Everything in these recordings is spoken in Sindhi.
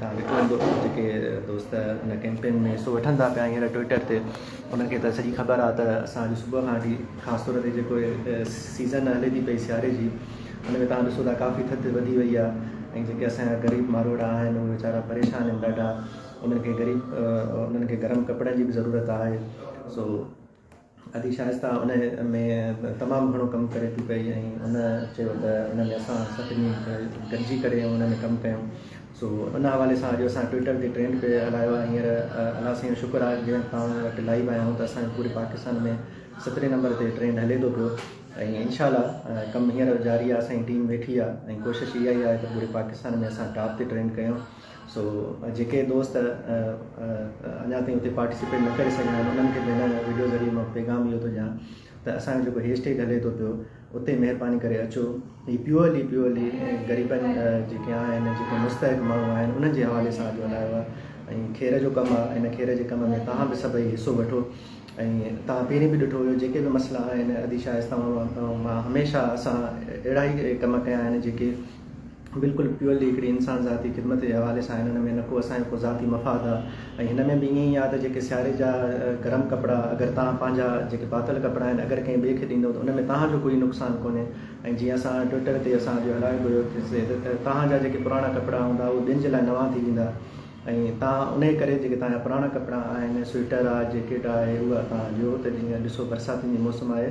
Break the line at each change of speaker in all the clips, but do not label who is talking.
تان ڏٺو هوندو جيڪي دوست ان ڪيمپين ۾ حصو وٺن ٿا پيا هينئر ٽوئيٽر تي انهن کي ته سڄي خبر آهي ته اسان اڄ صبح کان وٺي خاص طور تي جيڪو سيزن هلي ٿي پئي سياري جي ان ۾ تان ڏسو ٿا ڪافي ٿڌ وڌي وئي آهي ۽ جيڪي اسان جا غريب ماروئڙا آهن اهي ويچارا پريشان آهن ڏاڍا انهن کي غريب انهن کي گرم ڪپڙن جي به ضرورت آهي سو ادي شائسته ان ۾ تمام گهڻو ڪم ڪري ٿي پئي ۽ ان چيو ته ان ۾ اسان سڀني گڏجي ڪري ان ۾ ڪم ڪيون سو ان حوالي سان اڄ اسان ٽوئيٽر تي ٽرينڊ پئي هلايو آهي هينئر الله سائين جو شڪر آهي جنهن تان وٽ لائيو آهيا آئون ته اسان جو پوري پاڪستان ۾ سترهين نمبر تي ٽرينڊ هلي ٿو پيو ۽ انشاء الله ڪم هينئر جاري آهي اسان جي ٽيم ويٺي آهي ۽ ڪوشش اها ئي آهي ته پوري پاڪستان ۾ اسان ٽاپ تي ٽرينڊ ڪيون سو جيڪي دوست اڃا تائين اتي پارٽيسپيٽ نه ڪري سگهيا آهن انهن کي به هن وڊيو ذريعي مان پيغام اهو ٿو ڏيان ته اسان جو جيڪو هيش ٽيگ هلي ٿو پيو اتي مهرباني ڪري اچو هي پيورلي پيورلي غريبن جيڪي آهن جيڪي مستحق ماڻهو آهن انهن جي حوالي سان جو هلايو آهي ۽ کير جو ڪم آهي ان کير جي ڪم ۾ توهان به سڀئي حصو وٺو ۽ توهان پهرين به ڏٺو هيو جيڪي به مسئلا آهن ادي شاهه اسلام آباد مان هميشه اسان اهڙا ئي ڪم ڪيا آهن جيڪي بلڪل پيورلي هڪڙي انسان ذاتي خدمت جي حوالي سان هنن ۾ نه ڪو اسان جو ڪو ذاتي مفاد آ ۽ هن ۾ به ائين ئي آ ته جيڪي سياري جا گرم ڪپڙا اگر توهان پنهنجا جيڪي پاتل ڪپڙا آهن اگر ڪنهن ٻئي کي ڏيندو ته ان ۾ توهان جو ڪوئي نقصان ڪونهي ۽ جيئن اسان ٽوئٽر تي اسان اڄ هلايو به هيو توهان جا جيڪي پراڻا ڪپڙا هوندا اهي ٻين جي لاء نوان ٿي ويندا ۽ توهان انهي ڪري جيڪي توهان جا پراڻا ڪپڙا آهن سوئٽر آ جيڪيٽ آهي اها توهان ڏيو ته جيئن ڏسو برساتين جي موسم آهي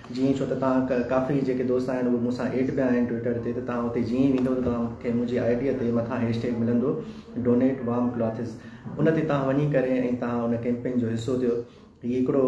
جي ائين ڇو ته توهان کي ڪافي جيڪي دوست آهن اهي مون سان ايڊ پيا آهن ٽوئيٽر تي ته توهان اتي جي ائين ويندو ته توهان کي منهنجي آئي ڊي تي مٿان هيش ٽيگ ملندو Donate Warm Clothes ان تي توهان وڃي ڪري ۽ توهان ان ڪيمپين جو حصو ٿيو هي هڪڙو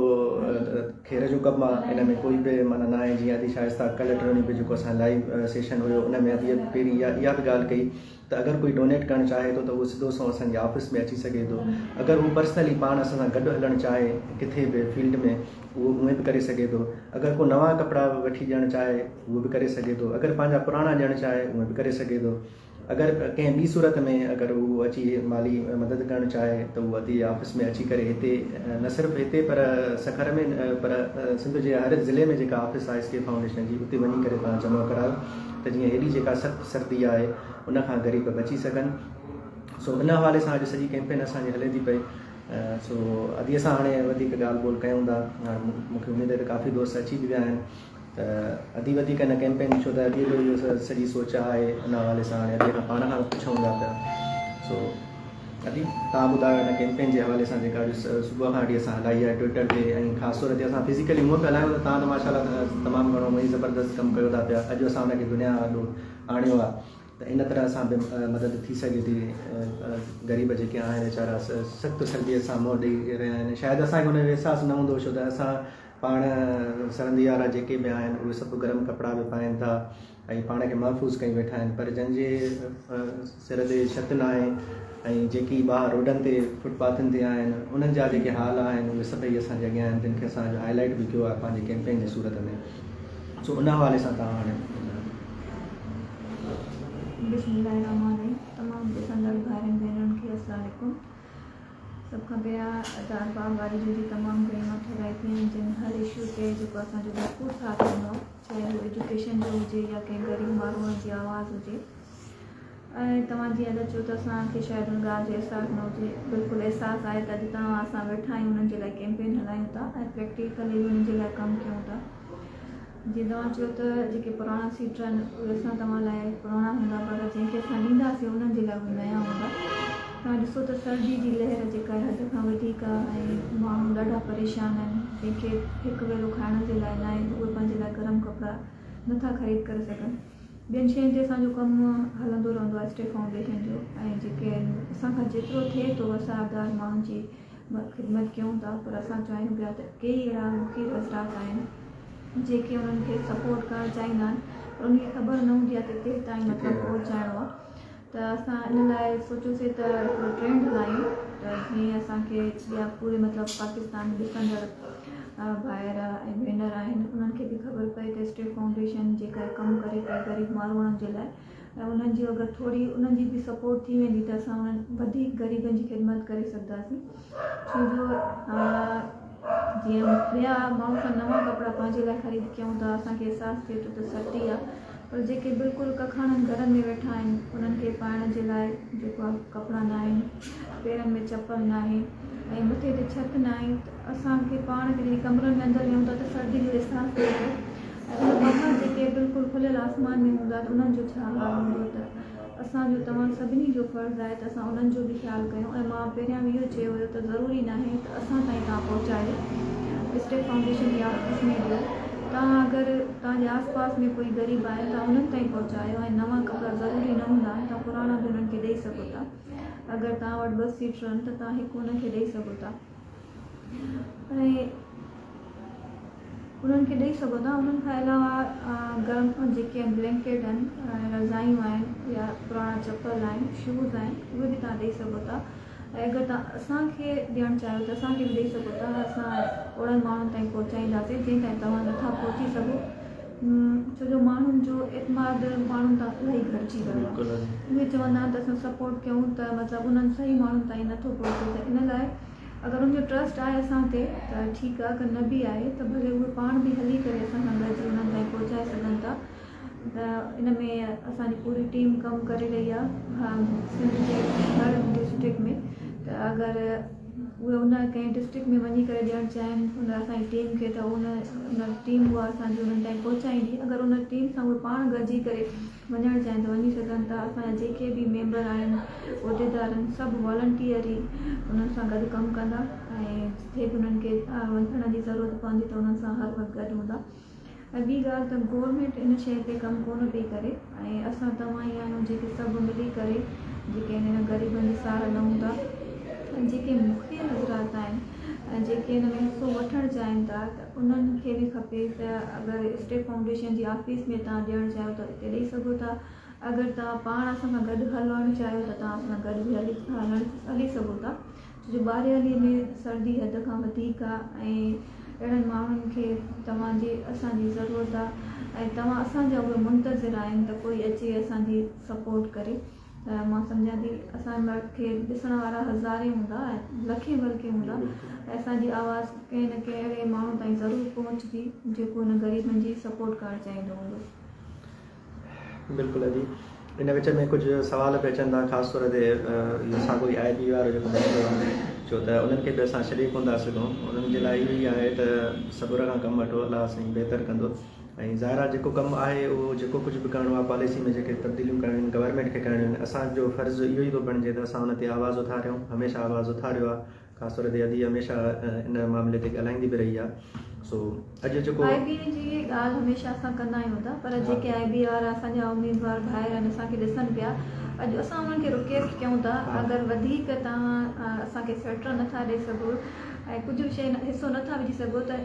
کير جو ڪپ آهي ان ۾ ڪوئي به معنيٰ نه آهي جيئن ادي شائسته ڪلهه ٽرڻي به جيڪو اسان جو لائيو سيشن هيو ان ۾ ادي پهرين اها به ڳالهه ڪئي ته اگر ڪوئي ڊونيٽ ڪرڻ چاهي ٿو ته اهو سڌو سنئون اسان جي آفيس ۾ اچي سگهي ٿو اگر هو پرسنلي پاڻ اسان سان گڏ هلڻ چاهي ڪٿي به فيلڊ ۾ اهو اونئين به ڪري سگهي ٿو اگر ڪو نوان ڪپڙا وٺي ڏيڻ چاهي اهو به ڪري سگهي ٿو اگر پنهنجا پراڻا ڏيڻ چاهي اونئين به ڪري سگهي ٿو اگر ڪنهن ٻي صورت ۾ اگر هو اچي مالي مدد ڪرڻ چاهي ته اهو ادي جي آفيس ۾ اچي ڪري هتي نه صرف هتي پر سکر ۾ پر سنڌ جي هر ضلعي ۾ جيڪا آفيس آهي اسڪيل فائونڊيشن جي اتي وڃي ڪري تان جمع ڪرايو ته جيئن هيڏي جيڪا سخت سردي آهي ان کان غريب بچي سگهن سو ان حوالي سان اڄ سڄي ڪيمپين اسان جي هلي ٿي پئي سو ادي سان هاڻي وڌيڪ ڳالهه ٻولهه ڪيون ٿا مون کي اميد آهي ته ڪافي دوست اچي به ويا آهن ته ادي وڌيڪ هن ڪيمپين ڇو ته ادي جو اهو سڄي سوچ آهي ان حوالي سان هاڻي ادي کان پاڻ کان پڇون ٿا پيا سو ادي تان ٻڌايو هن ڪيمپين جي حوالي سان جيڪا اڄ صبح کان وٺي اسان هلائي آهي ٽوئيٽر تي ۽ خاص طور تي اسان فزيڪلي هونء پيا هلايون ته تان ته ماشاء الله تمام گهڻو هونء ئي زبردست ڪم ڪيو ٿا پيا اڄ اسان ان کي دنيا آڏو آڻيو آهي ته ان طرح سان به مدد ٿي سگهي ٿي غريب جيڪي آهن ويچارا سخت سردي سان منهن ڏيئي رهيا آهن شايد اسان کي ان جو احساس نه هوندو ڇو ته اسان پاڻ سرندي وارا جيڪي به آهن اهي سڀ گرم ڪپڙا به پائين ٿا ۽ پاڻ کي محفوظ ڪيون ويٺا آهن پر جن جي سر تي ڇت ناهي ۽ جيڪي ٻاهر روڊن تي فوٽ پاٿن تي آهن انهن جا جيڪي حال آهن اهي سڀئي اسان جي اڳيان آهن جن کي اسان اڄ هاء لائيٽ به ڪيو آهي پنهنجي ڪيمپين جي صورت ۾ سو ان حوالي سان توهان هاڻي
بسم الله الرحمن الرحيم تمام ڏسندڙ ڀائرن ڀينرن کي السلام عليڪم سڀ کان پهريان ادار باغ واري جن جي تمام گهڻي مان ٿورائتي آهن جن هر اشو تي جيڪو اسان جو ڀرپور ساٿ ڏنو چاهي هو ايجوڪيشن جو هجي يا ڪنهن غريب ماڻهوء جي آواز هجي ۽ توهان جيئن ادا چيو ته اسان کي شايد ان ڳالهه جو احساس نه هجي بلڪل احساس آهي ته اڄ توهان اسان ويٺا آهيون انهن جي لاء ڪيمپين هلايون ٿا ۽ پريڪٽيڪلي به انهن جي لاء ڪم ڪيون ٿا جيئن توهان چيو ته جيڪي پراڻا سيٽر آهن اهي اسان توهان لاء پراڻا هوندا پر جنهن کي اسان ڏينداسين انهن جي لاء اهي نيا هوندا توهان ڏسو ته سرجي جي لهر جيڪا حد کان وڌيڪ آ ۽ ماڻهو ڏاڍا پريشان آهن جن کي هڪ ويلو کائڻ جي لاء ناهي ته اهي پنهنجي لاء گرم ڪپڙا نٿا خريد ڪري سگهن ٻين شين تي اسان جو ڪم هلندو رهندو آهي اسٽي فائونڊيشن جو ۽ جيڪي اسان کان جيترو ٿئي ٿو اسان اڌار ماڻهن جي خدمت ڪيون ٿا پر اسان چاهيون پيا ته ڪيئي اهڙا مفيد حضرات آهن جيڪي انهن کي سپورٽ ڪرڻ چاهيندا آهن پر انهن کي خبر نه هوندي آهي ته ڪيستائين مطلب پهچائڻو آهي ته اسان ان لاء سوچيوسين ته هڪڙو ٽرين هلايون ته جيئن اسان کي جيا پوري مطلب پاڪستان ڏسندڙ ڀائر ۽ ڀينر آهن انهن کي به خبر پئي ته اسٽيٽ فائونڊيشن جيڪا ڪم ڪري پئي غريب ماروئڙن جي لاء ۽ انهن جي اگر ٿوري انهن جي به سپورٽ ٿي ويندي ته اسان انهن وڌيڪ غريبن جي خدمت ڪري سگهنداسين. ڇو جو جيئن ٻيا ماڻهو اسان نوان ڪپڙا پنهنجي لاء خريد ڪيون ٿا اسان کي احساس ٿئي ٿو ته سستي آهي پر جيڪي بلڪل ڪکاڻن گهرن ۾ ويٺا آهن انهن کي پائڻ جي لاء جيڪو آهي ڪپڙا نه آهن پيرن ۾ چپل نه آهي ۽ مٿي تي ڇت نه آهي ته اسان کي پاڻ کي جڏهن ڪمرن ۾ اندر ويهون ٿا ته سردي جو احساس ٿئي ٿو ۽ ٻاهر جيڪي بلڪل کليل آسمان ۾ هوندا ته انهن جو ڇا حال هوندو ته اسان جو توهان سڀني جو فرض آهي ته اسان انهن جو به خيال ڪيون ۽ مان پهريان به اهو چيو هيو ته ضروري ناهي ته اسان تائين توهان پهچايو اسٽيڪ فائونڊيشن يا اسمي ڏيو توهان اگر توهان جي آس پاس ۾ ڪوئي غريب آهن توهان انهن تائين پهچايو ۽ نوان ڪپڙا ضروري نه هوندا آهن توهان پراڻا به انهن کي ڏئي سگهو ٿا اگر توهان وٽ ٻه سيٽرن ته توهان هڪ انهن کي ڏئي سگهو ٿا. انهن کي ڏئي سگهو ٿا انهن کان علاوه گرم جيڪي بلينڪيٽ آهن ۽ رضايون آهن يا پراڻا چپل آهن شوز آهن اهي به توهان ڏئي سگهو ٿا ۽ اگر توهان اسان کي ڏيڻ چاهيو ته اسان کي به ڏئي سگهو ٿا اسان اوڙن ماڻهن تائين پهچائينداسين جن تائين توهان نٿا پهچي سگهو ڇو جو ماڻهن جو اعتماد ماڻهن تان الاهي گهٽجي ويو آهي اهي چوندا آهن ته اسان سپورٽ ڪيون ته مطلب انهن صحيح ماڻهن تائين نٿو پهچي ته ان لاء اگر ان جو ٽرسٽ آهي اسان تي ته ٺيڪ آهي اگر نه به آهي ته ڀلي اهي پاڻ به هلي ڪري اسان سان گڏجي انهن تائين پهچائي سگهن ٿا ته ان ۾ اسان جي پوري ٽيم ڪم ڪري رهي آهي سنڌ جي هر ڊسٽرڪٽ ۾ ته اگر اهي ان ڪنهن ڊسٽرڪٽ ۾ وڃي ڪري ڏيڻ چاهين ان اسان جي ٽيم کي ته ان ان ٽيم اها اسان جي انهن تائين پهچائيندي اگر ان ٽيم سان اهي پاڻ گڏجي ڪري وڃڻ چاهين ته وڃي سگهن ٿا اسان جا جيڪي به ميمبر آهن عهديدار آهن سڀ والنٽيئر ئي انهن سان گڏ ڪم ڪندا ۽ جتي به انهن کي وڃڻ جي ضرورت پوندي ته انهن سان هر وقت گڏ هوندا اڳي ڳالهه ته گورنمينٽ ان شيء تي ڪم ڪونه پئي ڪري ۽ اسان توهان ئي آهيون جيڪي سڀ ملي ڪري جيڪي هنن غريبن جي ساهه لهون ٿا ۽ جيڪي مخفي حضرات آهن ۽ جيڪي ان ۾ حصو وٺڻ چاهين ٿا ته انهن کي به کپي ته اگر اسٽيٽ فائونڊيشن جي آفيس ۾ توهان ڏيڻ چاهيو ته اتي ڏئي سگهو ٿا اگر توهان پاڻ اسان سان گڏ هلڻ چاهيو ته توهان اسان سان گڏ به هلي سگهو ٿا جو ٻاريالي ۾ سردي حد کان وڌيڪ آ ۽ اهڙن ماڻهن کي توهان جي اسان جي ضرورت آ ۽ توهان اسان جا اهي منتظر آهن ته ڪوئي اچي اسان جي سپورٽ ڪري مان سمجهان ٿي اسان کي ڏسڻ وارا هزارين هوندا لکين بلڪه هوندا ۽ اسان جي آواز ڪنهن نه ڪنهن اهڙي ماڻهو تائين ضرور پهچندي جيڪو هن غريبن جي سپورٽ ڪرڻ چاهيندو هوندو. بلڪل
ادي ان وچ ۾ ڪجهه سوال به اچن ٿا خاص طور تي ساڳو ئي آء بي وارو جيڪو مسئلو آهي ڇو ته انهن کي به اسان ڇڏي ڪون ٿا سگهون انهن جي لاء اهو ئي آهي ته صبر کان ڪم وٺو الله سائين بهتر ڪندو ۽ ظاهر آهي جيڪو ڪم آهي اهو جيڪو ڪجهه به ڪرڻو آهي پاليسي ۾ جيڪي تبديليون ڪرڻيون آهن گورنمينٽ کي ڪرڻيون آهن اسان جو فرض اهو ئي ٿو بڻجي ته اسان ان تي آواز اٿاريون هميشه آواز اٿاريو آهي خاص طور تي ادي هميشه ان معاملي تي ڳالهائيندي به رهي آهي سو اڄ جيڪو آء بي جي ڳالهه
هميشه اسان ڪندا آهيون ته پر جيڪي آء بي وارا اسان جا اميدوار ڀائر آهن اسان کي ڏسن پيا اڄ اسان انهن کي رڪيسٽ ڪيون ٿا اگر وڌيڪ توهان اسان کي سوئٽر نٿا ڏئي سگهو ۽ ڪجهه به شيء حصو نٿا وجهي سگهو ته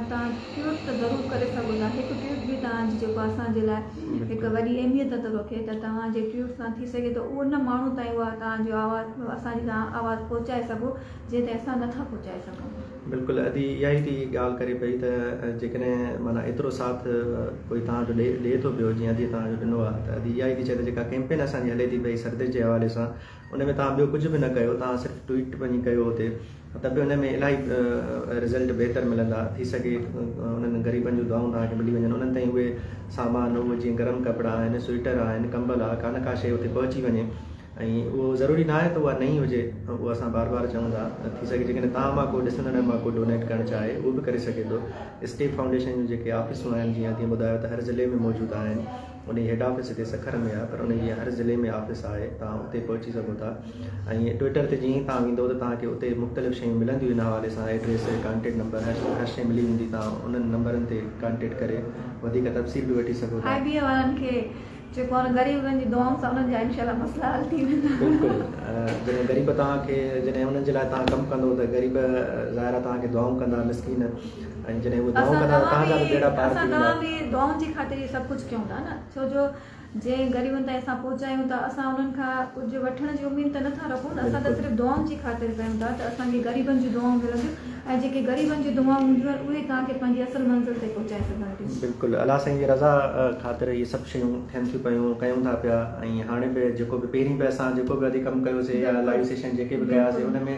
توهان ٽوئيٽ ته ضرور ڪري سگهو ٿا هڪ ٽوئيٽ به توهان جي جيڪو اسان جي لاء هڪ وڏي اهميت ٿو رکي ته توهان جي ٽوئيٽ سان ٿي سگهي ٿو اهو ان ماڻهو تائين اها توهان جي آواز اسان جي توهان آواز پهچائي سگهو جنهن تائين اسان نٿا پهچائي سگهون. بلڪل ادي اها
ئي ٿي ڳالهه ڪري پئي ته جيڪڏهن معنيٰ ايترو ساٿ ڪوئي توهان جو ڏئي ٿو پيو جيئن ادي توهان جو ڏنو آهي ته ادي اها ئي ٿي چئي ته جيڪا ڪيمپين اسان جي هلي ٿي پئي سرتيج جي حوالي سان ان ۾ توهان ٻيو ڪجهه به نه ڪيو توهان صرف ٽوئيٽ وڃي ڪيو اتي ته به ان ۾ الاهي رزلٽ بهتر ملندا ٿي سگهي انهن غريبن جون دعائون توهان کي ملي وڃن انهن تائين اهي سامان اهو جيئن گرم ڪپڙا آهن سوئيٽر آهن ڪمبل آهي ڪانه ڪا شيء اتي پهچي وڃي ۽ اهو ضروري نه آهي ته اها نئين هجي اهو اسان بار بار چون ٿا ٿي سگهي جيڪڏهن توهان مان ڪو ڏسندڙن مان ڪو ڊونيٽ ڪرڻ چاهي اهو به ڪري سگهي ٿو اسٽيپ فائونڊيشن جون جيڪي آفيسون آهن جيئن اڳي ٻڌايو ته هر ضلعي ۾ موجود آهن انهي هيڊ آفيس هتي سکر ۾ آهي پر انهي جي هر ضلعي ۾ آفيس آهي توهان اتي پهچي سگهو ٿا ۽ ٽوئيٽر تي جئين توهان ويندو ته توهان کي اتي مختلف شيون ملنديون ان حوالي سان ايڊريس ڪانٽيڪٽ نمبر هر هر شي ملي ويندي توهان انهن نمبرن تي ڪانٽيڪٽ ڪري وڌيڪ تفصيل به وٺي سگهو ٿا آئي بي اي وارن کي
چئبو آهي غريبن جي دعائن سان انهن جا انشاء الله مسئلا حل ٿي ويندا بلڪل
جڏهن غريب توهان کي جڏهن انهن جي لاء توهان ڪم ڪندو ته غريب ظاهر آهي توهان کي دعائون ڪندا مسڪين اسان توهان جي دعائن جي خاطر
اهو سڀ ڪجهه ڪيون ٿا نه ڇو جو جنهن غريبن تائين اسان پهچايون ٿا اسان انهن کان ڪجهه وٺڻ جي اميد ته نٿا رکون نه اسان ته صرف دعائن جي خاطر ڪيون ٿا ته اسان کي غريبن جون دعائون ملنديون ۽ جيڪي غريبن جون دعائون هونديون آهن اهي توهان کي پنهنجي اصل منزل تائين پهچائي سگهن ٿيون. بلڪل الله سائين جي رضا
خاطر اهي سڀ شيون ٿين ٿيون پيون ڪيون ٿا پيا ۽ هاڻي به جيڪو به پهرين به اسان جيڪو به ادي ڪم ڪيوسي يا لائيو سيشن جيڪي به ڪياسي ان ۾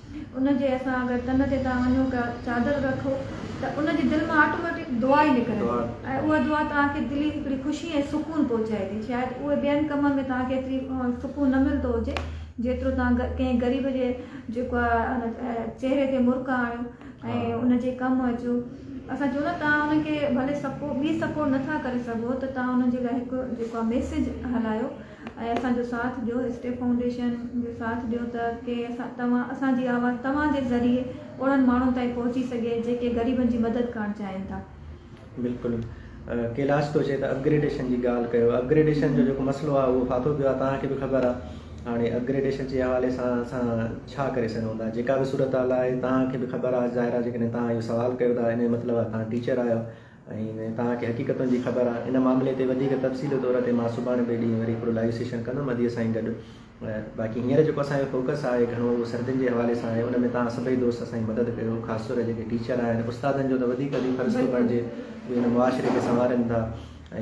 ان جي اسان اگر تن تي تان وڃو ڪا چادر رکو ته ان جي دل مان آٽوميٽڪ دعا ئي نڪرندي ۽ اها دعا توهان کي دلي هڪڙي خوشي ۽ سڪون پهچائي ٿي شايد اهي ٻين ڪمن ۾ توهان کي ايتري سڪون نه ملندو هجي جيترو توهان ڪنهن غريب جي جيڪو آهي چهري تي مرڪ آڻيو ۽ ان جي ڪم اچو اسان چون ٿا توهان ان کي ڀلي سپورٽ ٻي سپورٽ نٿا ڪري سگهو ته توهان ان جي لاء هڪ جيڪو آهي ميسيج هلايو ۽ اسان جو ساٿ ڏيو اسٽيپ فائونڊيشن جو ساٿ ڏيو ته ڪي توهان اسان جي آواز توهان جي ذريعي اوڙن ماڻهن تائين پهچي سگهي جيڪي غريبن جي مدد ڪرڻ چاهين ٿا. بلڪل
ڪيلاش ٿو چئي ته اپگريڊيشن جي ڳالهه ڪيو اپگريڊيشن جو جيڪو مسئلو آهي اهو ڦاٿو پيو آهي توهان کي به خبر آهي هاڻي اپگريڊيشن جي حوالي سان اسان ڇا ڪري سگهون ٿا جيڪا به صورتحال آهي توهان کي به خبر آهي ظاهر آهي جيڪڏهن توهان اهو سوال ڪيو ٿا ان جو مطلب آهي توهان ٽيچر آهيو ۽ توهان کي حقيقتن جي خبر آهي. ان معاملي تي وڌيڪ تفصيلي طور تي مان سڀاڻي ٻئي ڏينهن وري هڪڙو لائيو سيشن ڪندم ادي سائين گڏ. باقي هينئر جيڪو اسان جو فوڪس آهي گهڻو اهو سردين جي حوالي سان آهي ان ۾ توهان سڀئي دوست اسان جي مدد ڪيو خاص طور جيڪي ٽيچر آهن استادن جو ته وڌيڪ ادي فرض ٿو بڻجي اهي هن معاشري کي سنوارين ٿا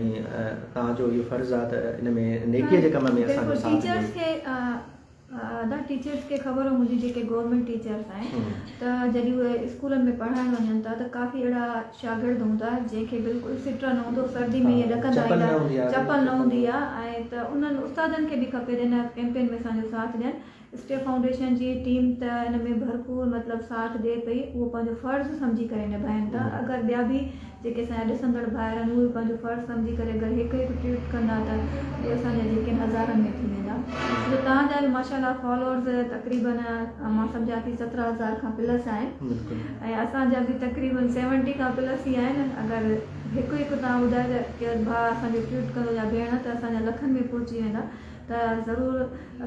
۽ توهان جو اهو فرض آهي ته ان ۾ نيڪي جي ڪم ۾ اسان جو ساٿ ڏيو. ادا
ٽيچرس کي خبر هوندي جي جيڪي گورنمينٽ ٽيچرس آهن ته جڏهن اهي اسڪولن ۾ پڙهائڻ وڃن ٿا ته ڪافي اهڙا شاگرد هوندا جن کي بلڪل سٽر نه هوندو سردي ۾ اهي ڏڪندا ايندا چپل نه هوندي آ ۽ ته انهن استادن کي به کپي ته ان ڪيمپين ۾ اسان جو ساٿ ڏين اسٽيپ فائونڊيشن جي ٽيم ته ان ۾ ڀرپور مطلب ساٿ ڏي پئي اهو پنهنجو فرض سمجهي ڪري نڀائين ٿا اگر ٻيا به جيڪي اسان جا ڏسندڙ ڀائر آهن اهي به پنهنجو فرض سمجهي ڪري اگر هڪ هڪ ٽوئيٽ ڪندا ته اهي اسان جا يقين هزارن ۾ ٿي ويندا ته توهان جا به ماشاء الله فالورز تقريبن مان سمجهان ٿي سترهن هزار کان پلس آهن ۽ اسان جا به تقريبن سيونٽي کان پلس ئي آهن اگر هڪ هڪ توهان ٻڌايو ته ڪير ڀاء اسان جو ٽوئيٽ ڪندو يا ڀيڻ ته اسان جا لکن ۾ پهچي ويندا ته ضرور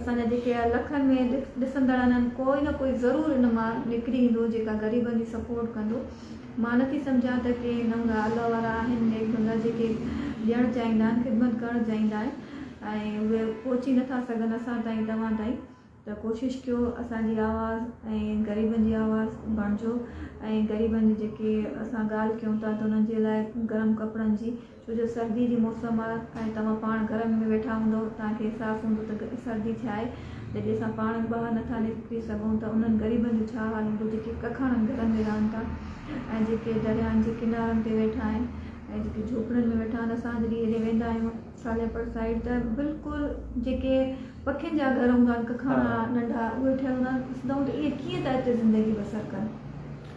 اسان جا جيڪي لکن ۾ ڏسندڙ آهن ڪوئي نه ڪوئي ضرور ان مان نڪري ايندو جيڪا غريبن جي سپورٽ ڪندو مان نه ٿي سمجهان ته ڪي نه هوندا الله وارا آهن نيڪ بندا جيڪي ڏيڻ چاهيندا آهن خدمت ڪرڻ چاهيندا آهن ۽ اهي پهچي نه ٿا سگهن اسان تائين توهان تائين ته ڪوشش ڪيو اسان جي آواز ۽ غريبن جي آواز بڻجو ۽ غريبن جي جيڪي اسان ڳالهه ڪيون ٿا ته انهن جي لاء گرم ڪپڙن جي ڇو جو سردي جي موسم آهي ۽ توهان پاڻ گهر ۾ ويٺا هوندؤ توهان کي احساس هوندو ته سردي ڇا آهي جڏهن اسان پاڻ به ٻاهر نٿا نڪري سگهون ته انهن غريبن جو ڇا حال هوندو جيڪي ڪکاڻن گهرن ۾ رهن ٿا ۽ جيڪي درياهن جي ڪنارن تي ويٺا آهن ۽ جيڪي جهوپڙين ۾ ويٺا آهن اسان جڏهن هيڏي ويندا آهيون سالياپور سائيڊ ته بلڪل جيڪي پکين جا گهر هوندا آهن ڪکاڻا ننڍا اهي ٺهيل هوندا آهن ڏسندا آهيون ته اهي ڪيئن ٿا اتي زندگي بسر ڪن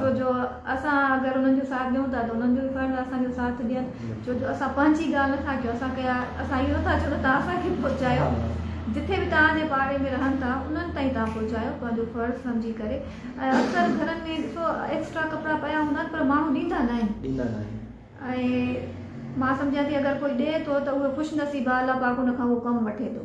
ڇو جو اسان اگر انهن جو ساٿ ڏيون ٿا ته انهن جو به فرض آهي اسان جو ساٿ ڏين ڇو جو اسان پنهنجي ڳالهه نٿا ڪيون اسان ڪيا اسان اهو نٿا چئون ته توهان اسان کي پهچايو جتي به توهان جي پاڙي ۾ رهن ٿا انهن تائين توهان پهچايو پنهنجو فرض سمجهي ڪري ۽ اڪثر گهرن ۾ ڏسو ايڪسٽرا ڪپڙا پيا هوندا آهن پر ماڻهو ڏيندا نه آهن ڏيندا نه آهن ۽ مان سمجهان ٿي اگر ڪوئي ڏي ٿو ته اهو خوش نصيب آهه الله پاڪ ان کان اهو ڪم وٺي ٿو.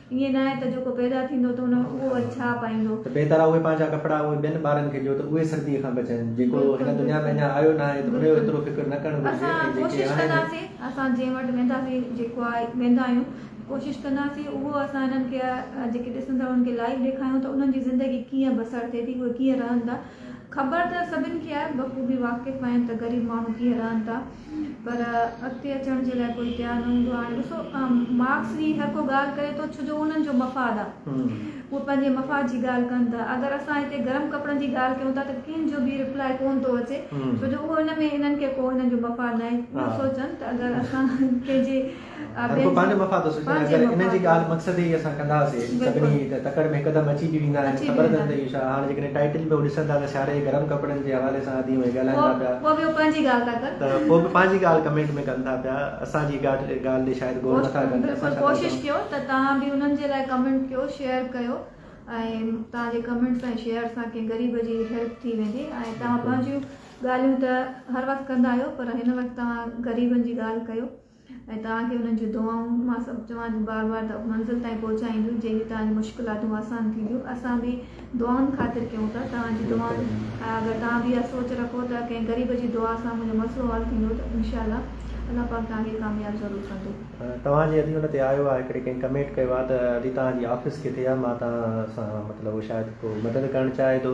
ائين ناهي ته جيڪو پيدا ٿيندو ته هن اهو وري ڇا پائيندو؟ ته بهتر آهي اهي پنهنجا
ڪپڙا اهي ٻين ٻارن کي ڏيو ته اهي سرديء کان بچن. جيڪو هن دنيا ۾ اڃا آيو ناهي ته ان جو ايترو فڪر نه ڪرڻ گهرجي ۽ جيڪي هاڻي
اسان
ڪوشش ڪنداسين
اسان
جنهن
وٽ وينداسين جيڪو آهي ويندا آهيون ڪوشش ڪنداسين اهو اسان هنن کي جيڪي ڏسن ٿا انهن کي لائيو ڏيکاريون ته انهن جي زندگي ڪيئن بسر ٿئي ٿي اهي ڪيئن رهن ٿا خبر ته سڀن کي آهي بخوبي واقف آهن ته غريب ماڻهو ڪيئن رهن ٿا. پر اڳتي اچڻ جي لاء ڪوئي تيار نه هوندو آهي ڏسو مارڪس به هر ڪو ڳالهه ڪري ٿو ڇو جو انهن جو مفاد آهي اهي پنهنجي مفاد جي ڳالهه ڪن ٿا اگر اسان هتي گرم ڪپڙن جي ڳالهه ڪيون ٿا ته ڪنهن جو به ريپلائي ڪون ٿو اچي ڇو جو اهو ان ۾ انهن کي ڪو انهن جو مفاد ناهي اهو سوچن ته اگر اسان ڪنهن جي هر ڪو پنهنجو
مفاد ٿو سوچي اگر انهن جي ڳالهه مقصد هي اسان ڪنداسي سڀني ته تڪڙ ۾ هڪدم اچي به ويندا آهن خبر اٿن ته اهو ڇا هاڻ جيڪڏهن ٽائيٽل به ڏسن ٿا ته سياري جي گرم ڪپڙن جي حوالي سان ادي ۽ ڳالهائين ٿا پيا پوء به پنهنجي ڳالهه
ٿا ڪن ته پوء به پنهنجي ڳالهه
ڪمينٽ ۾ ڪن ٿا پيا اسان جي ڳالهه تي شايد غور نٿا ڪن بلڪل ڪوشش ڪيو ته
توهان به انهن جي لاء ڪمينٽ ڪيو شيئر ڪيو ۽ توهان جي ڪمينٽس ۽ شيئر سان ڪنهن غريب جي هيلپ ٿي ويندي ۽ توهان پنهنجيون ڳالهيون ته هر وقت ڪندا آهيو پر هن وقت توهان غريبن جي ڳالهه ڪيو ۽ توهان کي انهن جون دعائون مان سڀ چوان ٿي بار بار ته منزل تائين پهچائينديون جنهن جي توهان جون مشڪلاتون آسان ٿينديون اسان به دعائن خاطر ڪيون ٿا توهان جي دعائن ۽ اگر توهان به اها سوچ رکو ته ڪنهن غريب جي دعا سان منهنجو مسئلو حل ٿيندو ته انشاء الله الله پاڪ توهان کي ڪامياب ضرور ڪندو. توهان جي ادي ان
تي آيو آ هڪڙي ڪنهن ڪمينٽ ڪيو آ ته ادي توهان جي آفيس ڪٿي آ مان توهان سان مطلب شايد ڪو مدد ڪرڻ چاهي ٿو.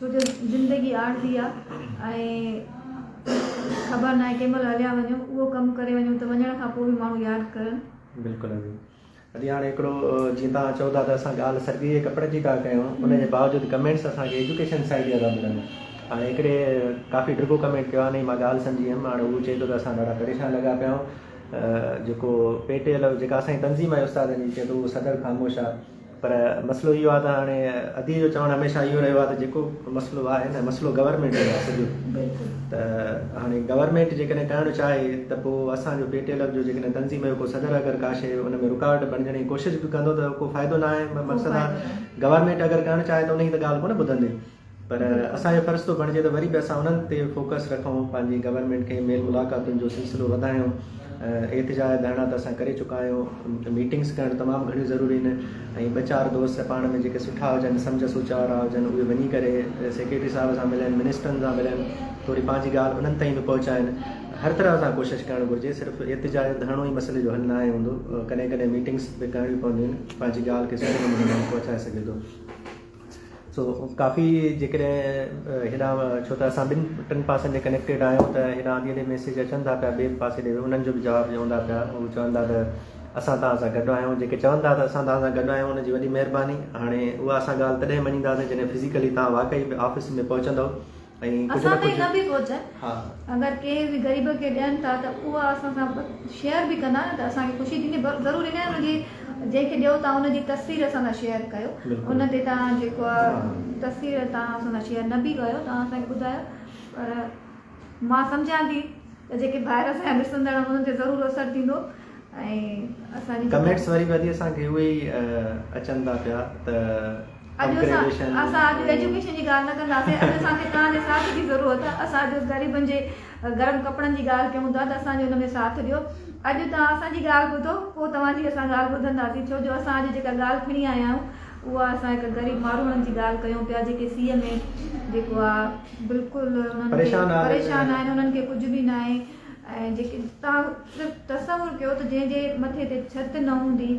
ڇو جو زندگي عارضي آ ۽ خبر ناهي ڪنهن مهل هليا وڃون اهو ڪم ڪري وڃون ته وڃڻ کان پوء به ماڻهو ياد ڪرن. بلڪل عظيم
اڄ هاڻي هڪڙو جيئن توهان چئو ٿا ته اسان ڳالهه سرگي جي ڪپڙن جي ٿا ڪيون ان جي باوجود ڪمينٽس اسان کي ايجوڪيشن سائيڊ جا ٿا ملن هاڻي هڪڙي ڪافي ڊگهو ڪمينٽ ڪيو آهي ان جي مان ڳالهه سمجهي ويم هاڻي هو چئي ٿو ته اسان ڏاڍا پريشان لڳا پيا آهيون جيڪو پي ٽي ايل جيڪا اسان جي تنظيم آهي استادن جي چئي ٿو اهو صدر خاموش آ پر مسئلو اهو آهي ته هاڻي ادي جو چوڻ هميشه اهو رهيو آهي ته جيڪو مسئلو آهي نه مسئلو گورنمينٽ جو آهي سڄو ته هاڻي گورنمينٽ جيڪڏهن ڪرڻ چاهي ته پوء اسان جو پي ٽي ايل ايف جو جيڪڏهن تنظيم جو ڪو صدر اگر ڪا شيء ان ۾ رڪاوٽ بڻجڻ جي ڪوشش به ڪندو ته ڪو فائدو نه آهي مقصد آهي گورنمينٽ اگر ڪرڻ چاهي ته ان جي ته ڳالهه ڪونه ٻڌندي پر اسان جو فرض ٿو بڻجي ته وري به اسان انهن تي فوڪس رکون، پنهنجي گورنمينٽ کي ميل ملاقاتن جو سلسلو وڌايون، احتجاج ڌرڻا ته اسان ڪري چڪا آهيون، ميٽنگس ڪرڻ تمام گهڻيون ضروري آهن ۽ ٻه چار دوست پاڻ ۾ جيڪي سٺا هجن، سمجهه سوچ وارا هجن اهي وڃي ڪري سيڪريٽري صاحب سان ملن، منسٽرن سان ملن، ٿوري پنهنجي ڳالهه انهن تائين به پهچائن، هر طرح سان ڪوشش ڪرڻ گهرجي، صرف احتجاج ڌرڻو ئي مسئلي جو حل ناهي هوندو، ڪڏهن ڪڏهن ميٽنگس به ڪرڻيون پونديون آهن، پنهنجي ڳالهه کي سٺي نموني ماڻهو پهچائي سگهي ٿو. سو ڪافي جيڪڏهن هيڏانهن ڇو ته اسان ٻن ٽن پاسن تي ڪنيڪٽيڊ آهيون ته هيڏانهن آڌي اڌي ميسيج اچن ٿا پيا ٻئي پاسي ڏي انهن جو به جواب ڏيون ٿا پيا هو چون ٿا ته اسان توهان سان گڏ آهيون جيڪي چون ٿا ته اسان توهان سان گڏ آهيون ان جي وڏي مهرباني هاڻي اها اسان ڳالهه تڏهن مڃينداسين جڏهن فزيڪلي توهان واقعي آفيس ۾ پهچندو اسان تائين نه به
پهچن اگر
ڪنهن به
غريب کي ڏين ٿا ته اها اسان سان شيئر به ڪندا ته اسان کي خوشي ٿيندي ضرور ان ان جي جنهن کي ڏيو ٿا ان جي تصوير اسان سان شيئر ڪيو ان تي تان جيڪو تصوير تان اسان سان شيئر نه به ڪيو تان اسان کي ٻڌايو پر مان سمجهان ٿي ته جيڪي ڀائر اسان جا ڏسندڙ انهن تي ضرور اثر ٿيندو ۽
اسان جي ڪمينٽس
واري
واري اسان کي اهي اچن ٿا پيا ته اڄ اسان اسان
اڄ ايجوڪيشن جي ڳالهه نه ڪنداسين اڄ اسان کي توهان جي ساٿ جي ضرورت آهي اسان اڄ غريبن جي گرم ڪپڙن جي ڳالهه ڪيون ٿا ته اسان جو ان ۾ ساٿ ڏيو اڄ توهان اسان جي ڳالهه ٻڌو پوء توهان جي اسان ڳالهه ٻڌنداسين ڇو جو اسان اڄ جيڪا ڳالهه کڻي آيا آهيون اها اسان هڪ غريب ماروئڙن جي ڳالهه ڪيون پيا جيڪي سيء ۾ جيڪو آهي بلڪل انهن کي پريشان آهن انهن کي ڪجهه به ناهي ۽ جيڪي توهان صرف تصور ڪيو ته جنهن جي مٿي تي ڇت نه هوندي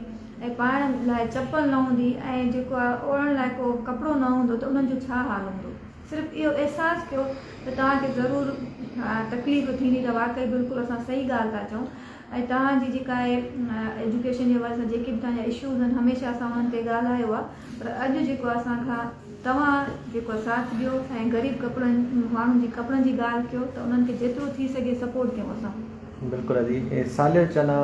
۽ پائڻ لاء چپل نه هوندي ۽ جيڪو آهي اوڙهڻ لاء ڪو ڪپڙو نه هوندو ته انهن جو ڇا حال هوندو صرف اهو احساس ڪيو ته توهان کي ضرور تڪليف ٿيندي ته واقعي بلڪل اسان صحيح ڳالهه ٿا چئون ۽ توهان جي جيڪا اهي ايجوڪيشن جي حوالي سان جيڪي به توهان جا اشوز آهن هميشه اسان انهن تي ڳالهايو آهي پر اڄ جيڪو اسان کان توهان جيڪو ساٿ ڏيو ۽ غريب ڪپڙن ماڻهن جي ڪپڙن جي ڳالهه ڪيو ته انهن کي جيترو ٿي سگهي سپورٽ ڪيون اسان. بلڪل عزيز
اي صالح چنا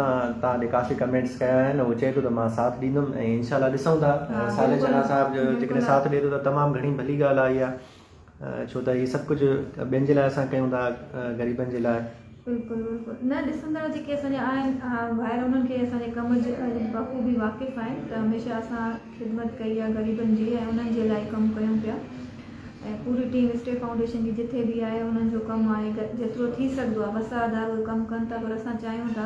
توهان جي ڪافي ڪمينٽس ڪيا آهن هو چئي ٿو ته مان ساٿ ڏيندم ۽ انشاء الله ڏسون ٿا صالح چنا صاحب جو جيڪڏهن ساٿ ڏي ٿو ته تمام گهڻي ڀلي ڳالهه آهي اها. ڇو ته هي سڀ ڪجهه ٻين جي لاء اسان ڪيون ٿا غريبن جي لاء. بلڪل بلڪل
نه ڏسندڙ جيڪي اسان جا آهن ڀائر انهن کي اسان جي ڪم جي بخوبي واقف آهن ته هميشه اسان خدمت ڪئي آهي غريبن جي ۽ انهن جي لاء ئي ڪم ڪيون پيا ۽ پوري ٽيم اسٽي فائونڊيشن جي جٿي به آهي انهن جو ڪم آهي جيترو ٿي سگهندو آهي وسه ادارو ڪم ڪن ٿا پر اسان چاهيون ٿا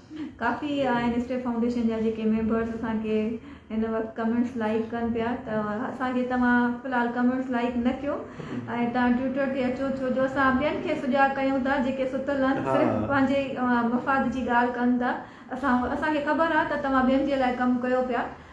ڪافي آهن اسٽيپ فائونڊيشن جا جيڪي ميمبرس اسان کي هن وقت ڪمينٽس لائڪ ڪن پيا ته اسان کي توهان في الحال ڪمينٽس لائڪ نه ڪيو ۽ توهان ٽوئيٽر تي اچو ڇو جو اسان ٻين کي سجاء ڪيون ٿا جيڪي ستل آهن صرف پنهنجي مفاد جي ڳالهه ڪن ٿا اسان اسان کي خبر آهي ته توهان ٻين جي لاء ڪم ڪيو پيا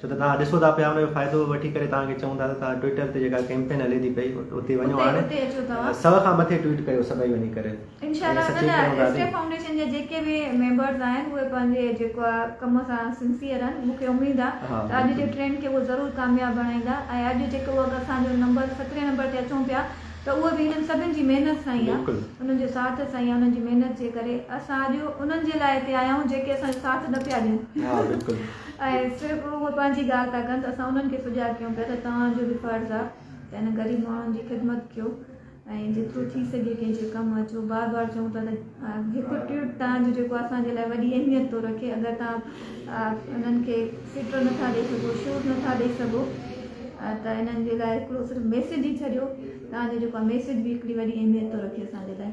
ڇو ته توهان ڏسو ٿا پيا ان جو فائدو وٺي ڪري توهان کي چئون ٿا ته توهان ٽوئيٽر تي جيڪا ڪيمپين هلي ٿي پئي اتي وڃو هاڻي سو کان مٿي ٽوئيٽ ڪيو سڀئي وڃي ڪري انشاءالله ان لاء ايس
ڪي فائونڊيشن جا جيڪي به ميمبرز آهن اهي پنهنجي جيڪو آهي ڪم سان سنسيئر آهن مون کي اميد آهي ته اڄ جي ٽرينڊ کي اهي ضرور ڪامياب بڻائيندا ۽ اڄ جيڪو اهو اسان جو نمبر سترهين نمبر تي اچون پيا ته اهو به هنن سڀن جي محنت سان ئي آهي انهن جو ساٿ سان ئي آهي انهن جي محنت جي ڪري اسان اڄ انهن جي لاء هتي آيا آهيون جيڪي اسان جو ساٿ نه پيا ڏين ۽ صرف اهي پنهنجي ڳالهه ٿا ڪن ته اسان انهن کي سجاڳ ڪيون پيا ته توهان جو به فرض آهي ته انهن غريب ماڻهن جي خدمت ڪيو ۽ جيترو ٿي سگهي ڪنهن جي ڪم اچو بار بار چئون ٿا ته هڪ ٽوئيٽ توهان جو جيڪو اسان جي لاء وڏي اهميت ٿو رکي اگر توهان انهن کي ٽوئيٽر نٿا ڏئي سگهو شوٽ نٿا ڏئي سگهو ته انهن جي لاء هڪڙو صرف ميسيج ئي ڇڏيو توهان جو جيڪو ميسيج به هڪڙي وڏي اهميت ٿو رکي اسان جي لاء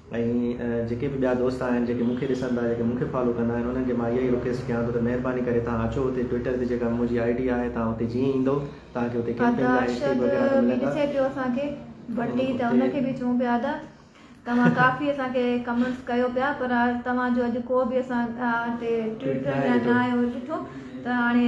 ۽ جيڪي به ٻيا دوست آهن جيڪي مون کي ڏسن ٿا جيڪي مون کي فالو ڪندا آهن انهن کي مان اها ئي رڪويسٽ ڪيان ٿو ته مهرباني ڪري توهان اچو اتي ٽوئيٽر تي جيڪا منهنجي آئي ڊي آهي توهان اتي جيئن ايندو توهان کي اتي ڪيمپنگ لاء ٽيڪ وغيره ته ملندا ڏسي
پيو اسان کي ڀٽي ته ان کي به چون پيا ادا توهان ڪافي اسان کي ڪمنٽس ڪيو پيا پر توهان جو اڄ ڪو به اسان تي ٽوئيٽ ڪري يا ناهي اهو ڏٺو ته هاڻي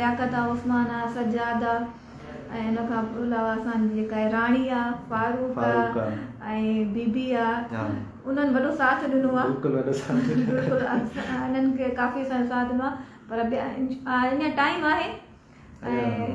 لياقت آ، عثمان آ، سجاد آ ۽ ان کان علاوه اسان جي جيڪا راڻي آ، فاروق آ ۽ بي بي آ انهن وڏو ساٿ ڏنو آ بلڪل انهن کي ڪافي اسان ساٿ ڏنو آ پر اڃان ٽائيم آهي ۽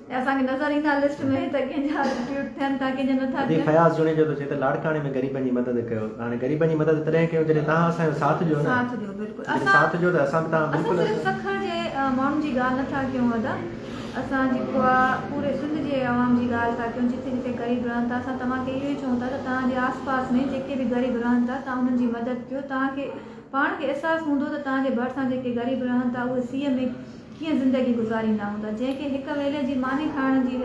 اسان کي نظر ايندا لسٽ ۾ ته ڪنهن جا ٽوئيٽ ٿين ٿا ڪنهن جا نه ٿا ٿين. فياض جوڻيجو ٿو چئي
ته لاڙڪاڻي ۾ غريبن جي مدد ڪيو هاڻي غريبن جي مدد تڏهن ڪيو جڏهن توهان اسان جو ساٿ ڏيو نه ساٿ ڏيو بلڪل جڏهن اسان ساٿ
ڏيو ته اسان به
توهان بلڪل اسان صرف سکر جي
ماڻهن جي ڳالهه نٿا ڪيون ادا اسان جيڪو آ پوري سنڌ جي عوام جي ڳالهه ٿا ڪيون جتي جتي غريب رهن ٿا اسان توهان کي اهو ئي چئون ٿا ته توهان جي آس پاس ۾ جيڪي به غريب رهن ٿا توهان انهن جي مدد ڪيو توهان کي پاڻ کي احساس هوندو ته توهان جي ڀرسان جيڪي غريب رهن ٿا اهي سيء ۾ ڪيئن زندگي گذاريندا هوندا. جنهن کي هڪ ويلي جي ماني کائڻ جي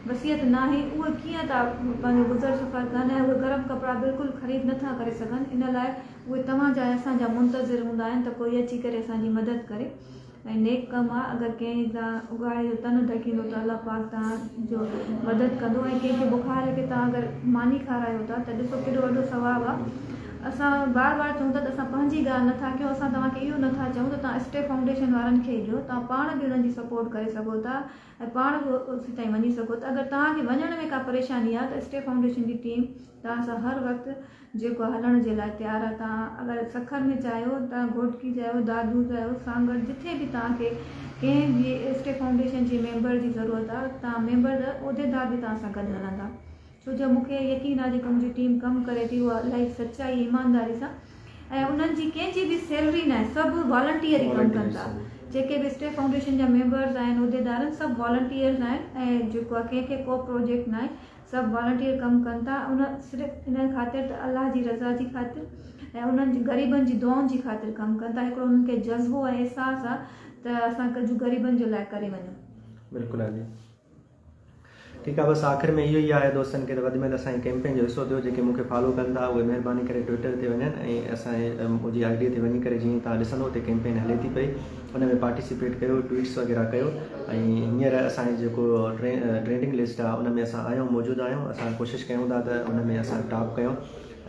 وسيعت ناهي اهي ڪيئن ٿا پنهنجو گذر سفر ڪن ۽ اهي گرم ڪپڙا بلڪل خريد نه ٿا ڪري سگهن ان لاء اهي توهان جا ۽ اسان جا منتظر هوندا آهن ته ڪوئي اچي ڪري اسان جي مدد ڪري ۽ نيڪ ڪم آهي اگر ڪنهن تان اگهاڙي جو تن ڍڪيندو ته الله پاڪ توهان جو مدد ڪندو ۽ ڪنهن کي بخار لڳي توهان اگر ماني کارايو ٿا ته ڏسو ڪيڏو وڏو ثواب آهي. اسان بار بار چئون ٿا ته اسان پنهنجي ڳالهه نه ٿا ڪيون اسان توهان کي اهو نه ٿا چئون ته توهان اسٽي فائونڊيشن وارن کي ڏيو توهان پاڻ به انهن جي سپورٽ ڪري سگهو ٿا ۽ پاڻ به اتي تائين وڃي سگهو ٿا اگر توهان کي وڃڻ ۾ ڪا پريشاني آهي ته اسٽي فائونڊيشن جي ٽيم توهان سان هر وقت جيڪو آهي هلڻ جي لاء تيار آهي توهان اگر سکر ۾ چاهيو توهان گهوٽڪي چاهيو دادو چاهيو سانگهڙ جٿي به توهان کي ڪنهن به اسٽي فائونڊيشن جي ميمبر جي ضرورت آهي توهان ميمبر عهديدار به توهان سان گڏ هلندا ڇو جو مون کي يقين آهي جيڪا منهنجي ٽيم ڪم ڪري ٿي اها الائي سچائي ۽ ايمانداري سان ۽ انهن جي ڪنهن جي به سيلري ناهي سڀ والنٽيئر ئي ڪم ڪن ٿا جيڪي به اسٽيف فائونڊيشن جا ميمبرز آهن عهديدارن سڀ والنٽيئرز آهن ۽ جيڪو آهي ڪنهن کي ڪو پروجيڪٽ ناهي سڀ والنٽيئر ڪم ڪن ٿا ان صرف ان خاطر ته الله جي رضا جي خاطر ۽ انهن جي غريبن جي دعائن جي خاطر ڪم ڪن ٿا هڪڙو انهن کي جذبو ۽ احساس آهي ته اسان ڪجهه غريبن جي لاء ڪري وڃون بلڪل آجي
ٺيڪ آ بس آخر ۾ اهو ئي آهي دوستن کي ته وڌ ۾ وڌ اسان جي ڪيمپين جو حصو ٿيو جيڪي مون کي فالو ڪن ٿا اهي مهرباني ڪري ٽوئيٽر تي وڃن ۽ اسان جي آئي ڊي تي وڃي ڪري جيئن توهان ڏسندو اتي ڪيمپين هلي ٿي پئي ان ۾ پارٽيسپيٽ ڪيو ٽوئيٽس وغيره ڪيو ۽ هينئر اسان جي جيڪو ٽرينڊنگ لسٽ آهي ان ۾ اسان آهيون موجود آهيون اسان ڪوشش ڪيون ٿا ته ان ۾ اسان ٽاپ ڪيون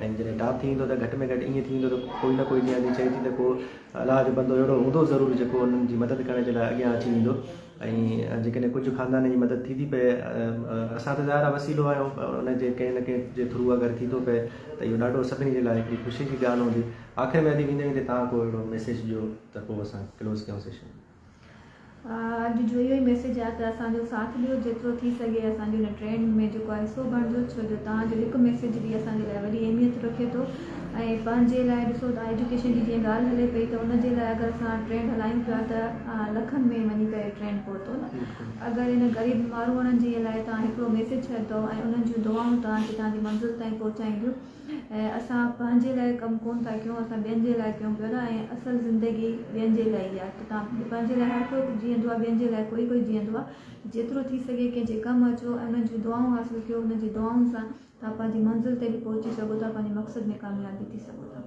۽ جڏهن ٽاپ ٿي ويندو ته گهٽ ۾ گهٽ ائين ٿي ويندو ته ڪوئي نه ڪوئي جيئن چئي ٿي ته ڪو الله جو بندو اهڙو هوندو ضرور جيڪو انهن جي مدد ڪرڻ جي لاء اڳيان اچي ويندو ۽ جيڪڏهن ڪجهه خاندان جي مدد ٿي ٿي پئي اسان ته ظاهر آهي وسيلو آهيون پر ان جي ڪنهن نه ڪنهن جي ٿرو اگر ٿي ٿو پئي ته اهو ڏاڍو سڀني جي لاء هڪڙي خوشي جي ڳالهه هوندي آخر ۾ ادي ويندي ويندي توهان ڪو اهڙو ميسيج ڏيو ته پوء اسان ڪلوز ڪيون سيشن.
اڄ جو اهو ئي ميسيج آهي ته اسان جو ساٿ ڏيو جيترو ٿي سگهي اسان جي هن ٽرينڊ ۾ جيڪو آهي حصو بڻجو ڇو جو توهان جو هڪ ميسيج به اسان جي لاء وڏي اهميت رکي ٿو ۽ پنهنجي لاء ڏسو ته ايجوڪيشن جي جيئن ڳالهه هلي پئي ته ان جي لاء اگر اسان ٽرين هلايون پيا ته لکن ۾ وڃي ڪري ٽرين پهتو نه اگر ان غريب ماروئڙن جي لاء توهان هڪڙو ميسيج ڇڏندو ۽ انهن جون دعائون توهان کي توهان جي منزل تائين پهچائينديون ۽ اسان پنهنجي لاء ڪم ڪون ٿا ڪيون اسان ٻين جي لاء ڪيون پيا ٿا ۽ اصل زندگي ٻين جي لاء ئي آهي ته توهان پنهنجي لاء هر ڪو جيئندو آهي ٻين جي لاء ڪوئي ڪوئي جيئندو آهي جيترو ٿي سگهي ڪنهن جي ڪم اچو ۽ انهن جون دعائون حاصل ڪيو انهن جي دعائن سان ٿا پنهنجي منزل تي به پهچي سگهو ٿا پنهنجي مقصد ۾ ڪامياب به ٿي سگهو ٿا.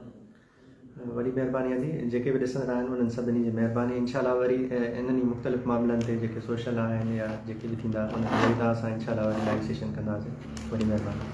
وڏي
مهرباني آهي جي جيڪي به ڏسندڙ آهن انهن سڀني جي مهرباني انشاء الله وري انهن ئي مختلف معاملن تي جيڪي سوشل آهن يا جيڪي به ٿيندا انهن تي وري توهان سان انشاء الله وري لائيو سيشن ڪنداسين وڏي مهرباني.